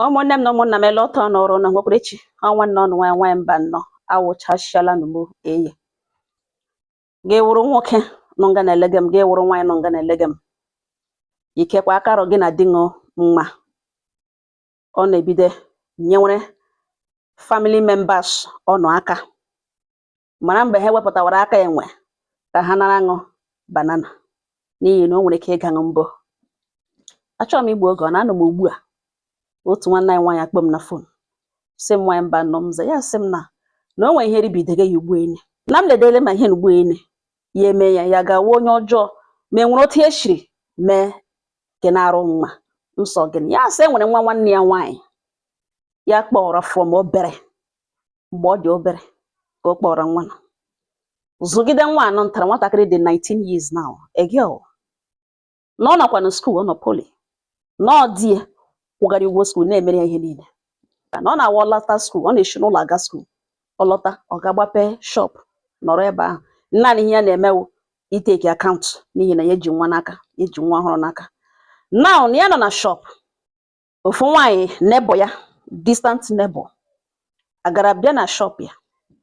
ụmụnne m na ụmụnna m ele otu ụnụ rị ụnụ nwekwara echi ọ nwanne ụnụ nwanyị nwanyị Mbanọ awụchasịala n'ugbo e ị ga-awụrụ nwoke nọ nga na-elege m ị ga-awụrụ nwaanyị nọ nga na-elege m ikekwa akarọ gị na-adịhụ mma ụnụ ebido nyewere family members ụnụ aka mara mgbe ha wepụtawara aka enwe ka ha nara aṅụ banana n'ihi na o nwere ike ịgaṅụ mbụ achọhụ m igbu oge ọ na-anọ m ugbu a otu nwanne anyị nwaanyị akpọ m na fon sị m nwaanyị Mbanọ m za ya sị m na na o nwere ihe ribidege ya ugbu enyi na m ledele ma ihe na ugbu enyi ya eme ya ya gawa onye ọjọọ ma e nwere otu e shiri mee ke na-arụ mma m sị ọ gịnị ya sị e nwere nwa nwanne ya nwaanyị ya kpọrọ from obere mgbe ọ dị obere ka ọ kpọrọ nwa na zụgide nwa nụ ntara nwatakịrị dị 19 years now a girl na ọ nọkwa na skuul ọ nọ poli na ọ di ya kwụgara ụgwọ skuul na-emere ya ihe niile ka na ọ na-awụ ọ lọta skuul ọ na-eshi n'ụlọ aga skuul ọ lọta ọ ga-agbape shop nọrọ ebe ahụ naanị ihe ya na-eme wụ ịtake account n'ihi na ya eji nwa n'aka ya eji nwa ọhụrụ n'aka now na ya nọ na shop ofu nwaanyị neighbour ya distant neighbour agara bịa na shop ya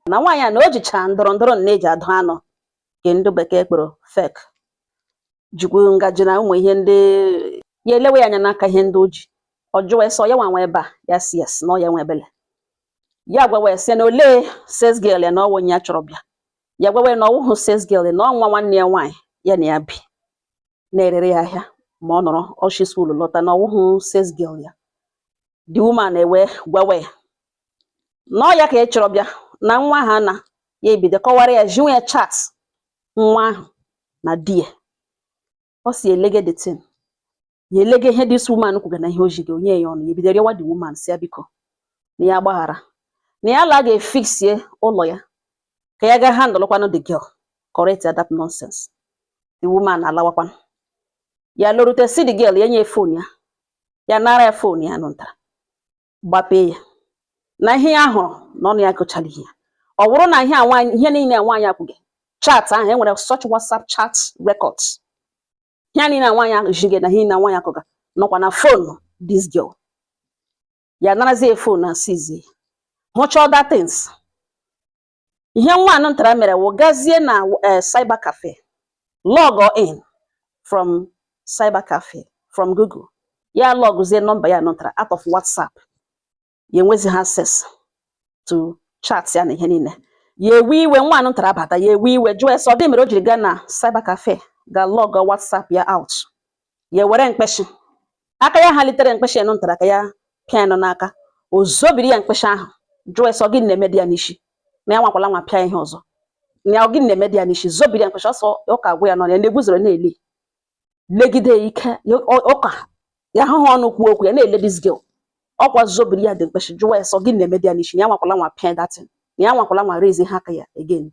na nwaanyị a na o jicha ndụdụ ndụdụ a na-eji adụ anụ nke ndị bekee kpọrọ fork jikwu ngaji na ụmụ ihe ndị ya elewe ya anya n'aka ihe ndị o ji ọ jụwa sị ọ ya nwe nwa ebe a ya sị yes na ọ ya nwe ebe a ya gwawa ya sị na olee sales girl ya na ọ wụ onye ya chọrọ bịa ya gwawa ya na ọ wụhụ sales girl ya na ọ nwa nwanne ya nwaanyị ya na ya bi na-erere ya ahịa ma ọ nọrọ o shi skuul lọta na ọ wụhụ sales girl ya the woman ewe gwawa ya na ọ ya ka ya chọrọ bịa na nwa ahụ na ya ebido kọwara ya ziwe ya chat nwa ahụ na di ya ọ sị ya elege the thing ya elege ihe this woman kwuga na ihe o jide onye ya ọnụ ya ebido rịọwa the woman sị ya biko na ya gbaghara na ya ala ga fixie ụlọ ya ka ya ga handle kwanụ the girl correct ya that nonsense the woman alawakwanụ ya lorute sị the girl ya nye fon ya ya nara ya fon ya nụntara gbapee ya na ihe ya hụrụ na ọnụ ya gụchara ihe ya ọ wụrụ na ihe a nwaanyị ihe niile a nwaanyị a kwuga chat ahụ e nwere such whatsapp chat records ihe niile a nwaanyị ahụ jige na ihe niile a nwaanyị a kwuga nọkwa na fon this girl ya narazie fon na seizie hụcha other things ihe nwa anụ ntara mere wụ gazie na eh, cyber cafe log in from cyber cafe from Google ya logzie nọmba ya nụtara out of WhatsApp ya enwezihụ access to chat ya na ihe niile ya ewe iwe nwa anụ ntara abata ya ewe iwe jụọ ya sị ọ gịnị mere o jiri gaa na cyber cafe ga log WhatsApp ya out ya were mkpịsị aka ya ha litere mkpịsị enu ntara ka ya pịa enu n'aka o zobiri ya mkpịsị ahụ jụọ ya sị ọ gịnị na-emedị ya n'isi na ya anwakwala anwa pịa ihe ọzọ na ọ gịnị na-emedị ya n'isi zobiri ya mkpịsị ọsọ ya ụka agwụ ya nọ ya na-eguzoro na-ele legide ya ike ya ọ- ụka ya ahụghị ọnụ kwuo okwu ya na-ele this girl ọkwa zobiri ya dị mkpịsị jụọ ya sị ọ gịnị na-emedị ya n'isi na ya anwakwala anwa pịa that thing na ya anwakwala anwa raise ha aka ya again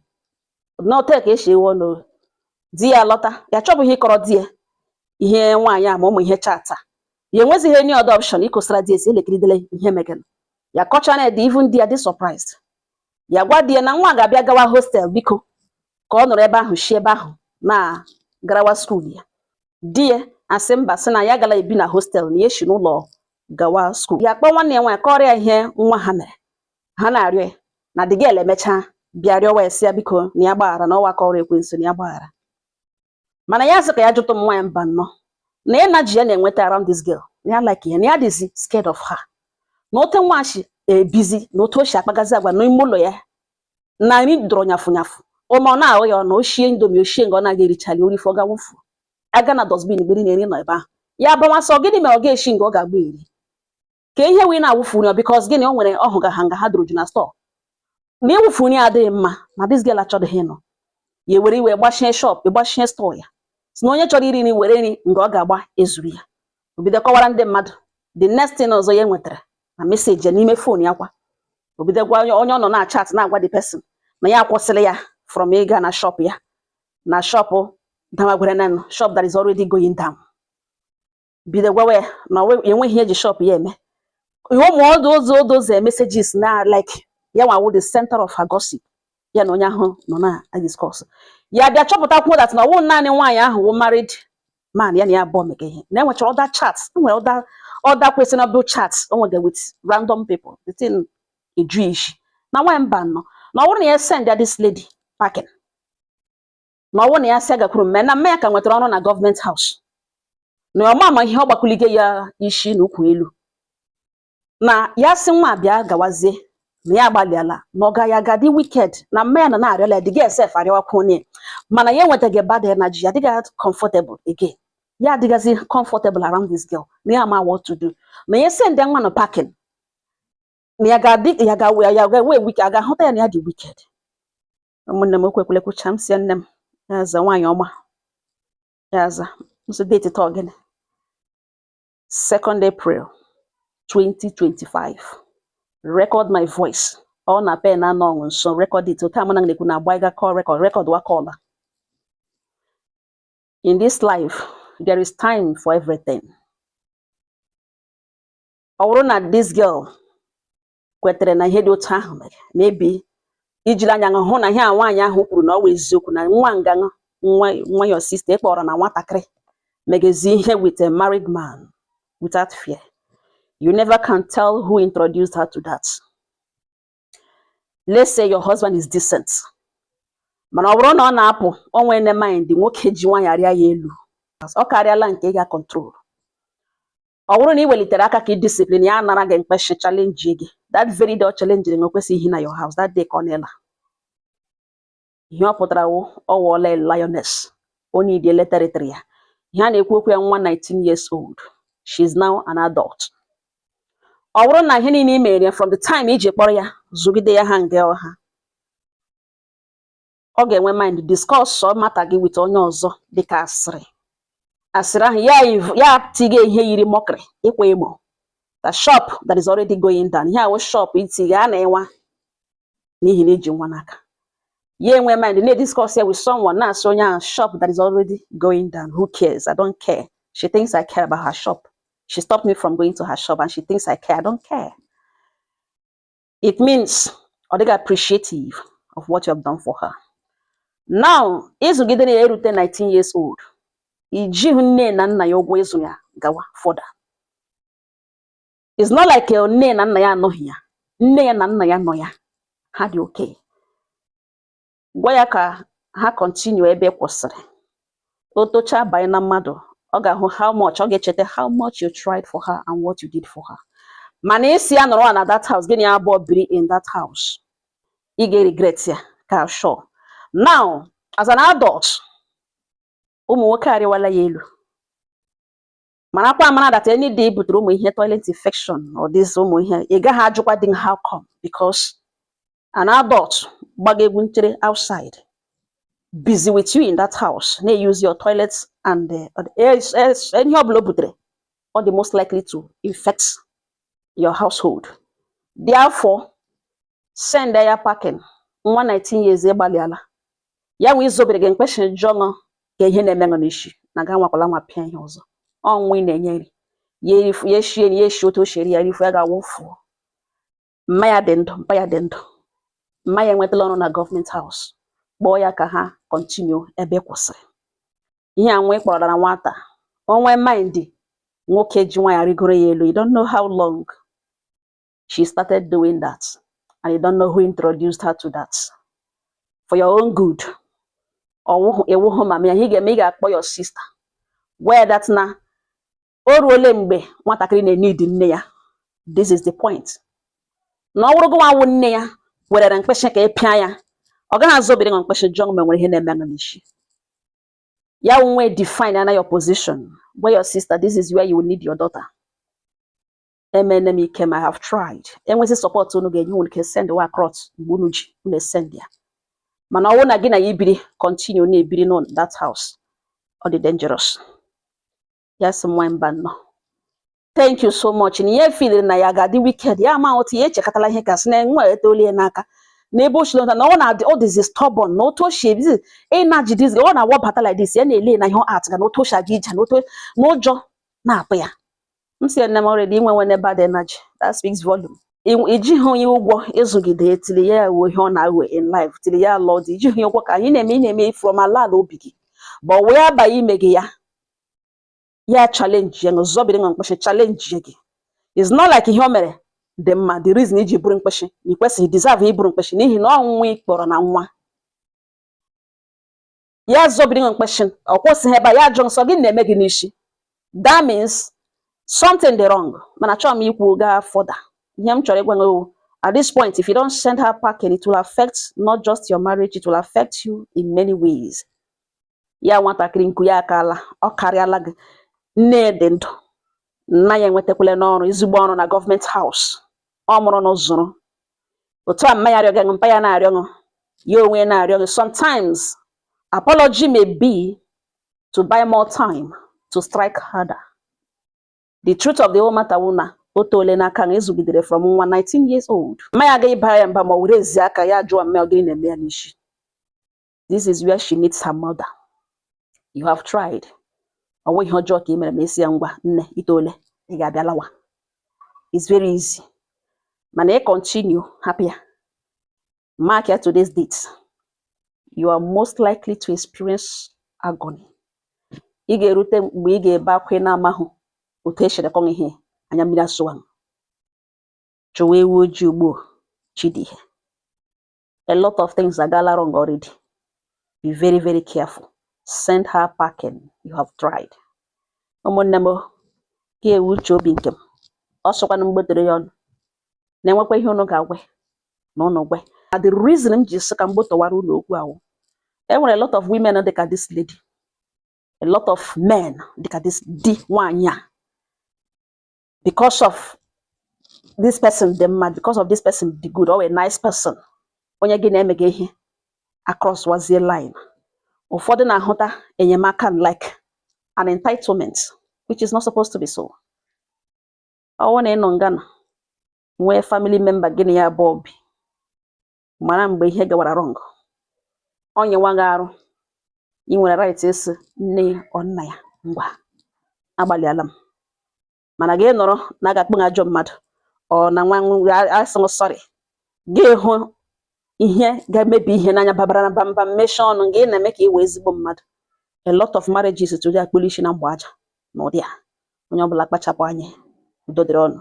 na otu a ka esi eghe ọnụ oghe. Di ya lọta, ya achọbụghị ịkọrọ di ya ihe nwaanyị a ma ụmụ ihe chat a. Ya enwezighị any other option ịkọsara di ya sị ya lekiridele ihe mega nụ. Ya kọchaara ya di even di ya dị surprised. Ya gwa di ya na nwa a ga-abịa gawa hostel biko ka ọ nọrọ ebe ahụ si ebe ahụ na-garawa skuul ya. Di ya asị mba sị na ya agala ebi na hostel na ya esi n'ụlọ gawa skuul. Ya akpọọ nwanne ya nwaanyị kọọrọ ya ihe nwa ha mere. ha na-arịọ ya na the girl emechaa bịa rịọwa ya sị ya biko na ya gbaghara na ọ wụ aka ọrụ ekwensu na ya gbaghara mana ya sị ka ya jụtụ Nwaanyị Mbano na energy ya na-enweta around this girl na ya like ya na ya dịzi scared of her na ote nwa shi ebizi na otu o si akpagazi agwa n'ime ụlọ ya na nri dọrọ nyafụ nyafụ ụma ọ na-ahụ ya ọ na o shie indomie o shie nga ọ na-aga erichali o rifọ ọ ga-awụfu a gaa na dustbin gbiri nri nọ ebe ahụ ya abawa sị ọ gịnị mere ọ ga-eshi nga ọ ga-aga eri ka ihe wee na-awụfu nri because gịnị o nwere ọ hụga ha nga ha dọrọ ju na store na ịwụfu nri adịghị mma na this girl achọdịghị ịnụ ya were iwe gbachie shop gbachie store ya sị na onye chọrọ iri nri were nri nga ọ ga-aga ezuru ya o bido kọwara ndị mmadụ the next thing ọzọ ya nwetara na message ya n'ime phone ya kwa o bido gwa onye onye ọ nọ na-achat na-agwa the person na ya akwụsịrị ya from ịga na shop ya na shop damagwere na shop that is already going down bido gwawa ya na enweghị ihe eji shop ya eme ụmụ all those all those messages na like ya nwa wụ the center of her gossip ya na onye ahụ nọ na discuss ya bịa chọpụtakwuo that na ọ wụ naanị nwaanyị ahụ wụ married man ya na ya abụọ mega ihe na enwechara other chats enwere other other questionable chats o nwega with random people the thing eju ya isi na Nwaanyị Mbano na ọ wụrụ na ya send ya this lady packing na ọ wụ na ya sị ya gakwuru mma ya na mma ya ka nwetara ọrụ na government house na ọ ma ama ihe ọ gbakulige ya isi na ukwu elu na ya sị nwa bịa gawazie na ya agbalịala na ọ gaghị aga dị wicked na mma ya na-arịọla ya the girl sef arịọwakwa onye mana ya enwetaga bad energy ya adịghị comfortable again ya adịghịzi comfortable around this girl na ya ma what to do na ya send nwa a packing na ya ga-adị ya ga-ewe wicked a ga-ahụta ya na ya dị wicked ụmụnne m okwu ekwele kwucha m sị nne m ya aza nwaanyị ọma ya aza nso date taa ọ gịnị 2nd April 2025 record my voice ọ na pen anọ ọṅụ nso record it okay amana na-ekwu na agbaiga call record record wa call a in this life there is time for everything ọ wụrụ na this girl kwetere na ihe dị otu ahụ mere maybe i jiri anya hụ na ihe a nwaanyị ahụ kwuru na ọ wụ eziokwu na nwa nga ahụ nwa nwa your sister ị kpọrọ na nwatakịrị megezi ihe with a married man without fear you never can tell who introduced her to that let's say your husband is decent mana ọ bụrụ na ọ na-apụ o nwene mind nwoke ji nwaanyị arịa ya elu ọ karịala nke ị ga control ọ bụrụ na ị welitere aka ka ị discipline ya nara gị mkpeshi challenge gị that very day ọ challengiri gị o kwesịghị ihi na your house that day ka ọ na-ela ihe ọ pụtara wụ ọ wụọla lioness o nwediele territory ya ihe a na-ekwu okwu ya nwa 19 years old she is now an adult ọ bụrụ na ihe niile i mere from the time i ji kpọrọ ya zụgide ya ha nga ọ ha ọ ga-enwe mind discuss matter gị with onye ọzọ dịka asịrị asịrị ahụ ya ya tiga ihe yiri mockery ịkwa emo the shop that is already going down ihe a wụ shop itiga a na-enwa n'ihi na i ji nwa n'aka ya enwe mind na-ediscuss ya with someone na-asị onye ahụ shop that is already going down who cares i don't care she thinks i care about her shop she stopped me from going to her shop and she thinks i care i don't care it means ọ dịghị appreciative of what you have done for her now ị zụgidene ya erute 19 years old i jighị nne na nna ya ụgwọ ịzụ ya gawa further it's not like uh, nne na nna ya anọghị ya nne ya na nna ya nọ ya ha dị okay gwa ya ka ha continue ebe ị kwụsịrị o tochaa banye na mmadụ ọ ga-ahụ how much ọ ga-echeta how much you tried for her and what you did for her mana ị sị ya nọrọ na that house gị na ya abụọ biri in that house ị ga-eregret ya ka sure now as an adult ụmụ nwoke arịwala ya elu marakwa amara that any day o butere ụmụ ihe toilet infection all this ụmụ ihe ị gaghị ajụkwadị how come because an adult gbaga egwu nchere outside bizi with you in that house na-use your toilet and eh, eh, eh, ihe ọ bụla o butere ọ dị most likely to infect your household therefore send ya packing nwa 19 years ị gbalịala ya wee zọbiri gị mkpeshi jụọ gị ihe na-eme gị n'isi na gị anwakwala anwa pịa ihe ọzọ ọnwụ ị na-enye nri ya erifu ya eshie ya eshi otu o shiri ya erifu ya gaa wụfuo mma ya dị ndụ mpa ya dị ndụ mma ya enwetala ọrụ na government house kpọọ ya ka ha continue ebe ị kwụsịrị ihe a nwa ị kpọrọ na nwata o nwee mind nwoke ji nwa ya rịgoro ya elu you don't know how long she started doing that. And you don't know who introduced her to that. For your own good. Ọ wụ mama ya ihe ị ga-eme gaa kpọọ your sister. Gwa ya that na o ruole mgbe nwatakịrị na-eneed nne ya. This is the point. Na ọ wụrụ gụnwa wụ nne ya werere mkpịsị ka ị pịa ya. Ọ gaghị azọbiri gị mkpịsị jụọ gị o nwere ihe na-eme gị n'isi. Ya nwe define ana your position. Gwa your sister, this is where you will need your daughter. emeene m ike m I have tried e nwezie support unu ga-enye unu can send ya across mgbe unu ji unu esend ya mana ọ wụ na gị na ya ibiri continue na-ebiri n'ụlọ that house ọ dị dangerous ya sị nwa mba nnọọ thank you so much na ihe feeliri na ya ga-adị wicked ya ma otu ya echekọtala ihe ka sị na nwa etolie n'aka n'ebe o chilota na ọ na-adị ọ dịzi stubborn na otu o shi ebizi energy dịzi ọ na-awabata like this ya na-ele na ihe at ga na otu o shi aga ije na otu na ụjọ na-atụ ya m si nne m already i nwe nweene bad energy that speaks volume i jihụ ya ụgwọ ịzụgide till ya awụọ ihe ọ na-awụ in life till ya lọọ di i jihụ ya ụgwọ ka ihe ị na-eme ị na-eme from ala ala obi gị but whereby ime gị ya ya challenge ya azọbiri gị mkpeshi challengie gị it's not like ihe o mere dị mma the reason i ji buru mkpeshi na ị kwesịghị deserve iburu mkpeshi n'ihi na ọnwụnwa ị kpọrọ na nwa ya zọbiri gị mkpịsị ọ kwụsịghị ebe a ya jụọ sị ọ gịnị na-eme gị n'isi that means something dị wrong mana achọghị m ikwuga further ihe m chọrọ ịgwa gị at this point if you don't send her packing it will affect not just your marriage it will affect you in many ways ya nwatakịrị nku ya akaala ọ karịala gị nne dị ndụ nna ya enwetakwalanụ ọrụ ezigbo ọrụ na government house ọ mụrụ nwa zụrụ otu a mma ya arịọ gị mpa ya na-arịọ gị ya onwe ya na-arịọ gị sometimes apology may be to buy more time to strike harder the truth of the whole matter wụ na o toole n'aka na ị zụgidere from nwa 19 years old mma ya agaghị abara ya mba ma ọ were ezi aka ya jụọ mma ya ọ gịnị na-eme ya n'isi this is where she needs her mother you have tried ọ nweghị ihe ọjọọ ka ị mere ma ị sị ya ngwa nne i toole ị ga-abịa lawa it's very easy mana ị continue hapụ ya mark ya today's date you are most likely to experience agony ị ga-erute mgbe ị ga-ebe akwa ị na-amahụ otu e shiri kọwa ihe anya mmiri asọwa chọwa ewu ojii ugbu a chi dị ìhè a lot of things agaala wrong already be very very careful send her packing you have tried ụmụnne m nke a wụ uche obi nke m ọ sịkwanụ m gbọtọrọ ya unu na e nwekwa ihe unu ga-agwa ya na unu gwa ya the reason m ji sị ka m gbọtọwara unu okwu ahụ e nwere a lot of women dị ka this lady a lot of men dị ka this di nwaanyị a because of this person dị mma because of this person dị good or a nice person onye gị na-emega ihe across wazie line ụfọdụ na-ahụta enyemaka like an entitlement which is not supposed to be so ọ wụ na ị nọ nga a nwee family member gị na ya bu obi mara mgbe ihe gawara wrong ọ nyịwa gị arụ ị nwere right ịsị nne or nna ya ngwa agbalịala m mana gị nọrọ na a ga-akpọ ajọ mmadụ ọ na nwa asị m sorry gị hụ ihe ga-emebi ihe n'anya babara na bamba mmesha ọnụ gị na-eme ka ị wụ ezigbo mmadụ a lot of marriages today akpụrụ isi na mgbe aja n'ụdị a onye ọbụla kpachapụ anya udo dịrị unu